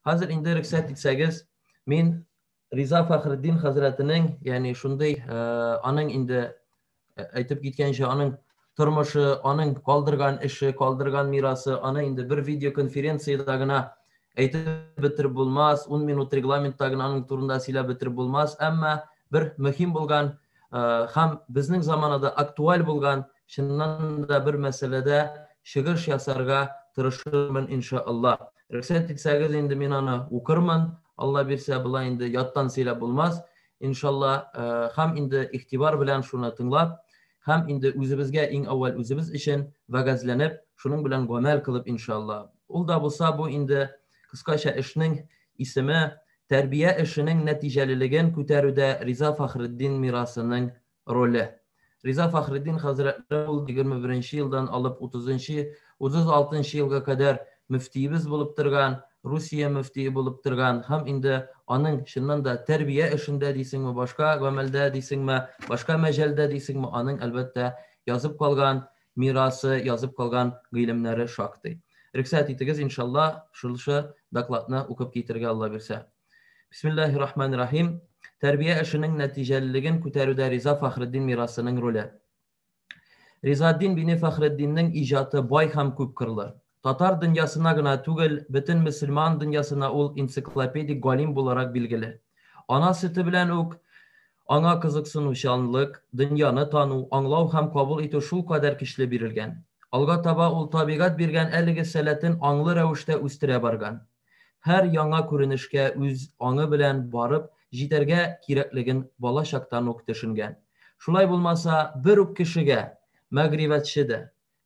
Хәзер инде рөхсәт итсәгез, мин Риза Фәхреддин хәзрәтенең, ягъни шундый э, аның инде э, әйтеп киткәнчә, аның тормышы, аның калдырган эше, калдырган мирасы, аны инде бер видеоконференциядә генә әйтеп бетереп булмас, 10 минут регламентта генә аның турында сөйләп бетереп булмас, әмма бер мөһим булган э, һәм безнең заманада актуаль булган чыннан да бер мәсьәләдә чыгыш ясарга тырышырмын иншаллаһ. Рөхсәт итсәгез, инде мин аны укырмын. Алла бирсә, болай инде яттан сөйләп булмас. Иншалла, һәм инде игътибар белән шуны тыңлап, һәм инде үзебезгә иң әүвәл үзебез өчен вәгазьләнеп, шуның белән гамәл кылып иншалла. Ул да булса бу инде кыскача эшнең исеме, тәрбия эшенең нәтиҗәлелеген күтәрүдә Риза Фахретдин мирасының роле. Риза Фәхреддин хәзрәтләре ул 21 елдан алып 30-36 елга кадәр мөфтиебез булып торган, Русия мөфтие булып торган һәм инде аның чыннан да тәрбия эшендә дисеңме, башка гамәлдә дисеңме, башка мәҗәлдә дисеңме, аның әлбәттә язып калган мирасы, язып калган гыйлемнәре шактый. Рөхсәт итегез, иншалла, шулшы докладны укып китергә Алла бирсә. Бисмиллахи рахмани рахим. Тәрбия эшенең нәтиҗәлелеген күтәрүдә Риза Фахреддин мирасының роле. Ризаддин бине Фахреддиннең иҗаты бай һәм күп кырлы. Татар дөньясына гына түгел, бөтен мөселман дөньясына ул энциклопедик галим буларак билгеле. Ана сөте белән үк аңа кызыксынучанлык, дөньяны тану, аңлау һәм кабул итү шул кадәр көчле бирелгән. Алга таба ул табигать биргән әлеге сәләтен аңлы рәвештә үстерә барган. Һәр яңа күренешкә үз аңы белән барып җитәргә кирәклеген бала чактан ук төшенгән. Шулай булмаса, бер үк кешегә мәгърифәтче дә,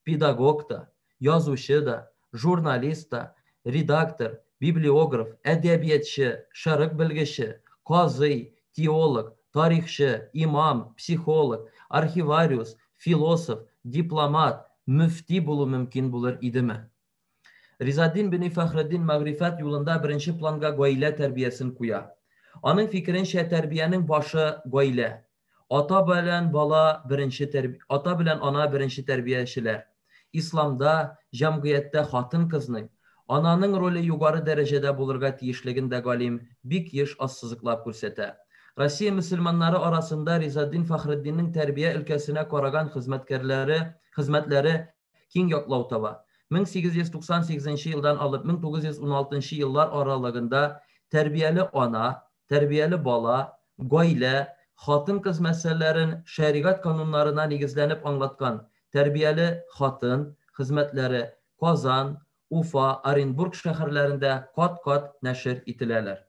педагог та, язучы да, журналист та, редактор, библиограф, әдәбиятчы, шәрык белгече, казый, теолог, тарихчы, имам, психолог, архивариус, философ, дипломат, мөфти булу мөмкин булыр идеме? Ризаддин бени Фәхреддин мәгърифәт юлында беренче планга гаилә тәрбиясен куя. Аның фикеренчә, тәрбиянең башы, гаилә. Ата белән бала беренче тәрби... ата белән ана беренче тәрбиячеләр. Исламда, җәмгыятьтә хатын-кызның, ананың роле югары дәрәҗәдә булырга тиешлеген дә галим бик еш ассызыклап күрсәтә. Россия мөселманнары арасында Ризаддин Фәхреддиннең тәрбия өлкәсенә караган хезмәткәрләре, хезмәтләре киң ятлау таба. 1898 нче елдан алып 1916 нчы еллар аралыгында тәрбияле ана, тәрбияле бала, гаилә, хатын-кыз мәсьәләләрен шәригать кануннарына нигезләнеп аңлаткан Тәрбияле хатын, хезмәтләре, Казан, Уфа, Оренбург шәһәрләрендә кат-кат нәшер ителәләр.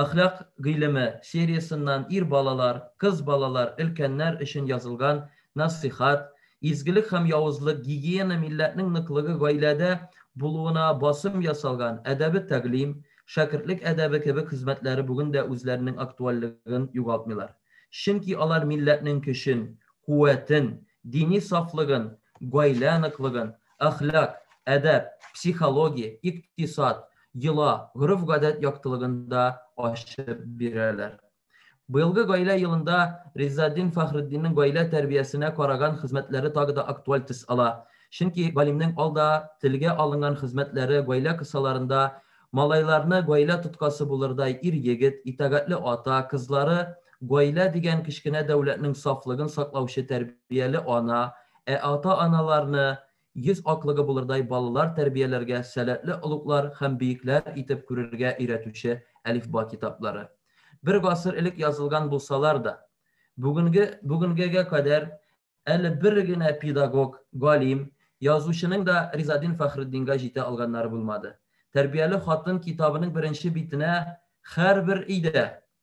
Әхлак гыйлеме сериясеннан ир балалар, кыз балалар, өлкәннәр өчен язылган Нәсыйхәт, Изгелек һәм явызлык, Гигиена милләтнең ныклыгы гаиләдә булуына басым ясалган, Әдәбе тәгълим, Шәкертлек әдәбе кебек хезмәтләре бүген дә үзләренең актуальлеген югалтмыйлар. Чөнки алар милләтнең көчен, куәтен, дини сафлыгын, гаилә ныклыгын, әхлак, әдәп, психология, икътисад, йола, гореф-гадәт яктылыгында ачып бирәләр. Быелгы гаилә елында Риззатдин Фәхретдиннең гаилә тәрбиясенә караган хезмәтләре тагы да актуаль төс ала. Чөнки галимнең алда телгә алынган хезмәтләре гаилә кысаларында малайларны гаилә тоткасы булырдай ир-егет, итагатьле ата, кызлары гаилә дигән кечкенә дәүләтнең сафлыгын саклаучы тәрбияле ана, Ә ата-аналарны йөз атлыгы булырдай балалар тәрбияләргә сәләтле олуглар һәм биекләр итеп күрергә өйрәтүче әлифба китаплары, бер гасыр элек язылган булсалар да, бүгенге бүгенгегә кадәр әле бер генә педагог, галим, язучының да Ризадин Фәхретдингә җитә алганнары булмады. Тәрбияле хатын китабының беренче битенә һәрбер өйдә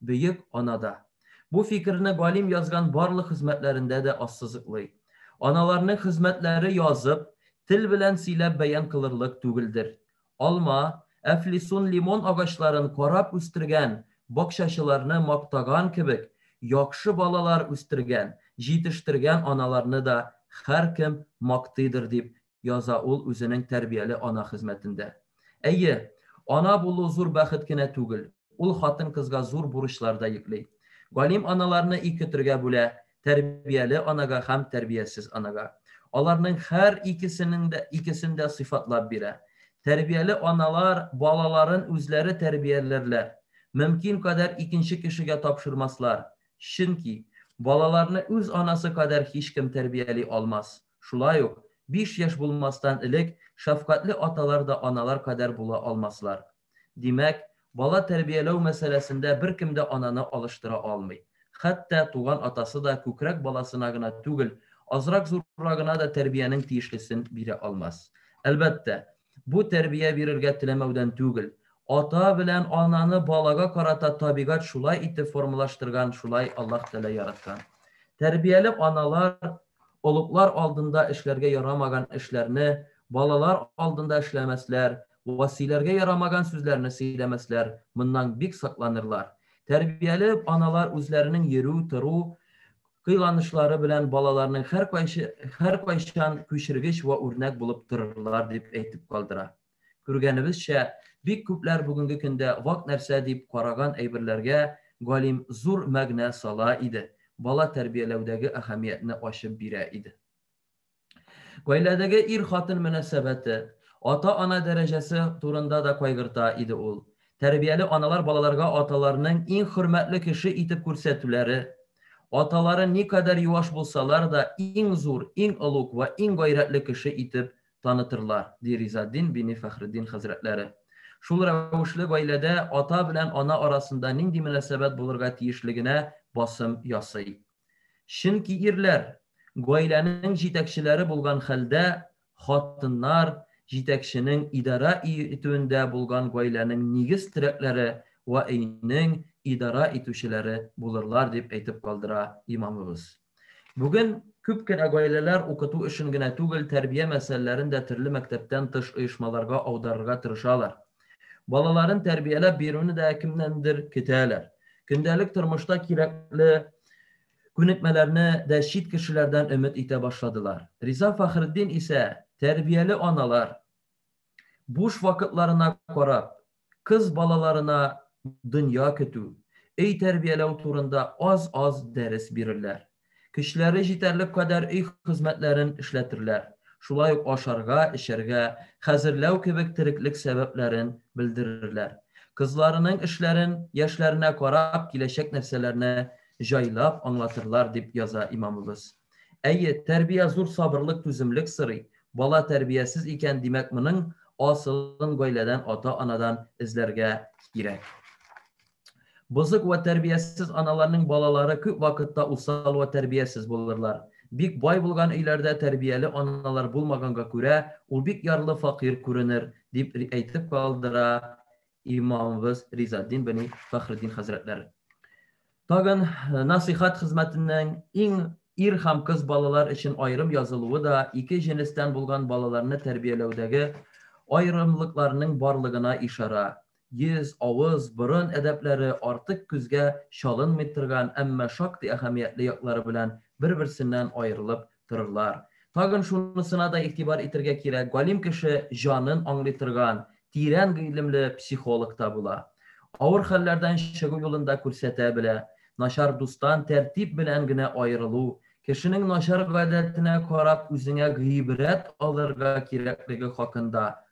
Бөек анада. Бу фикерне галим язган барлык хезмәтләрендә дә ассызыклый. Аналарның хезмәтләре язып, тел белән сөйләп бәян кылырлык түгелдер. Алма, әфлисун лимон агачларын карап үстергән бакчачыларны мактаган кебек, яхшы балалар үстергән, җитештергән аналарны да һәркем мактыйдыр дип яза ул үзенең тәрбияле ана хезмәтендә. Әйе, ана булу зур бәхет кенә түгел, ул хатын-кызга зур бурычлар да йөкли. Галим аналарны ике төргә бүлә, тәрбияле анага һәм тәрбиясез анага. Аларның һәр икесенең дә икесен дә сыйфатлап бирә. Тәрбияле аналар балаларын үзләре тәрбияләрләр, мөмкин кадәр икенче кешегә тапшырмаслар, чөнки балаларны үз анасы кадәр һичкем тәрбияли алмас. Шулай ук, биш яшь булмастан элек шәфкатьле аталар да аналар кадәр була алмаслар. Димәк, бала тәрбияләү мәсьәләсендә беркем дә ананы алыштыра алмый. Хәтта туган атасы да күкрәк баласына гына түгел, азрак-зуррагына да тәрбиянең тиешлесен бирә алмас. Әлбәттә, бу тәрбия бирергә теләмәүдән түгел. Ата белән ананы балага карата табигать шулай итеп формалаштырган, шулай Аллаһ Тәгалә яраткан. Тәрбияле аналар Олуглар алдында эшләргә ярамаган эшләрне балалар алдында эшләмәсләр, василәргә ярамаган сүзләрне сөйләмәсләр, моннан бик сакланырлар. Тәрбияле аналар үзләренең йөрү, тору, кыйланышлары белән балаларның һәркайчан күчергеч вә үрнәк булып торырлар, дип әйтеп калдыра. Күргәнебезчә, бик күпләр бүгенге көндә вак нәрсә дип караган әйберләргә галим зур мәгънә сала иде, бала тәрбияләүдәге әһәмиятне ачып бирә иде. Гаиләдәге ир-хатын мөнәсәбәте, ата-ана дәрәҗәсе турында да кайгырта иде ул. Тәрбияле аналар балаларга аталарының иң хөрмәтле кеше итеп күрсәтүләре, аталары никадәр юаш булсалар да, иң зур, иң олуг вә иң гайрәтле кеше итеп танытырлар, ди Ризатдин бине Фәхретдин хәзрәтләре. Шул рәвешле гаиләдә ата белән ана арасында нинди мөнәсәбәт булырга тиешлегенә басым ясый. Чөнки ирләр, гаиләнең җитәкчеләре булган хәлдә, хатыннар, җитәкченең идарә итүендә булган гаиләнең нигез терәкләре вә өйнең идарә итүчеләре булырлар, дип әйтеп калдыра имамыбыз. Бүген күп кенә гаиләләр укыту эшен генә түгел, тәрбия мәсьәләләрен дә төрле мәктәптән тыш оешмаларга аударырга тырышалар. Балаларын тәрбияләп бирүне дә кемнәндер көтәләр. Көндәлек тормышта кирәкле күнекмәләрне дә чит кешеләрдән өмет итә башладылар. Риза Фәхретдин исә тәрбияле аналар буш вакытларына карап, кыз балаларына дөнья көтү, өй тәрбияләү турында аз-аз дәрес бирерләр. Көчләре җитәрлек кадәр өй хезмәтләрен эшләтерләр, шулай ук ашарга, эчәргә хәзерләү кебек тереклек сәбәпләрен белдерерләр. Кызларының эшләрен яшьләренә карап киләчәк нәрсәләрне җайлап аңлатырлар, дип яза имамыбыз. Әйе, тәрбия зур сабырлык, түземлек сорый. Бала тәрбиясез икән, димәк, моның асылын гаиләдән, ата-анадан эзләргә кирәк. Бозык вә тәрбиясез аналарның балалары күп вакытта усал вә тәрбиясез булырлар. Бик бай булган өйләрдә тәрбияле аналар булмаганга күрә, ул бик ярлы факир күренер, дип әйтеп калдыра имамыбыз Ризаддин бен Фәхреддин хәзрәтләре. Тагын э, насыйхат хезмәтеннән иң ир һәм кыз балалар өчен аерым язылуы да ике җенестән булган балаларны тәрбияләүдәге аерымлыкларның барлыгына ишара. Йөз, авыз, борын әдәпләре артык күзгә чалынмый торган, әмма шактый әһәмиятле яклары белән бер-берсеннән аерылып торырлар. Тагын шунысына да игътибар итергә кирәк, галим кеше җанын аңлый торган, тирән гыйлемле психолог та була. Авыр хәлләрдән чыгу юлын да күрсәтә белә. Начар дустан тәртип белән генә аерылу, кешенең начар гадәтенә карап үзеңә гыйбрәт алырга кирәклеге хакында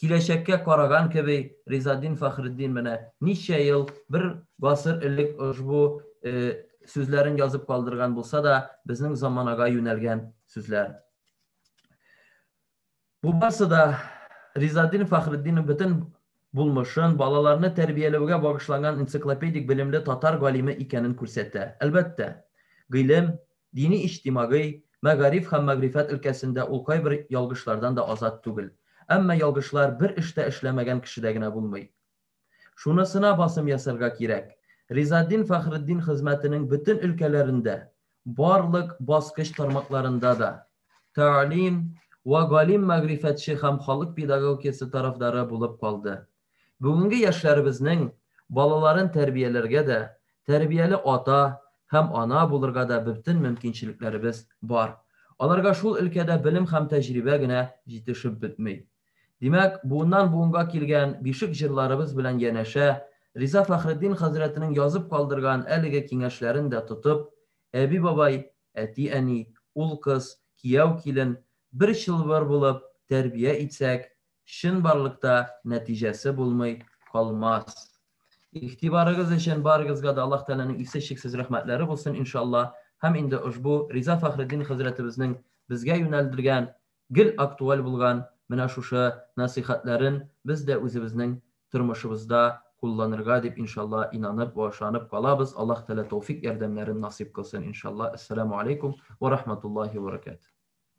Киләчәккә караган кеби, Ризаддин Фәхреддин менә ничә ел, бер гасыр элек ошбу сүзләрен язып калдырган булса да, безнең заманага юнәлгән сүзләр. Бу барсы да Ризаддин Фәхреддинның бөтен булмышын, балаларны тәрбияләүгә багышланган энциклопедик белемле татар галиме икәнен күрсәтә. Әлбәттә, гыйлем, Дини-иҗтимагый, мәгариф һәм мәгърифәт өлкәсендә ул кайбер ялгышлардан да азат түгел. Әмма ялгышлар бер эш тә эшләмәгән кешедә генә булмый. Шунысына басым ясарга кирәк, Ризатдин Фәхретдин хезмәтенең бөтен өлкәләрендә, барлык баскыч тармакларында да тәгалим вә галим-мәгърифәтче һәм халык педагогикасы тарафдары булып калды. Бүгенге яшьләребезнең балаларын тәрбияләргә дә, тәрбияле ата һәм ана булырга да бөтен мөмкинчелекләребез бар. Аларга шул өлкәдә белем һәм тәҗрибә генә җитешеп бетми. Димәк, буыннан-буынга килгән бишек җырларыбыз белән янәшә, Риза Фәхретдин хәзрәтенең язып калдырган әлеге киңәшләрен дә тотып, әби-бабай, әти-әни, ул-кыз, кияү-килен бер чылбыр булып тәрбия итсәк, чынбарлыкта нәтиҗәсе булмый калмас. Игътибарыгыз өчен барыгызга да Аллаһ Тәгаләнең исе чиксез рәхмәтләре булсын, иншалла. Һәм инде ошбу Риза Фәхреддин хәзрәтебезнең безгә юнәлдергән, гел актуаль булган менә шушы нәсыйхәтләрен без дә үзебезнең тормышыбызда кулланырга дип, иншалла, инанып вә ышанып калабыз. Аллаһ Тәгалә тәүфик ярдәмнәрен насыйп кылсын, иншалла. Әссәламү алейкум вә рахматуллаһи вә баракатуһ.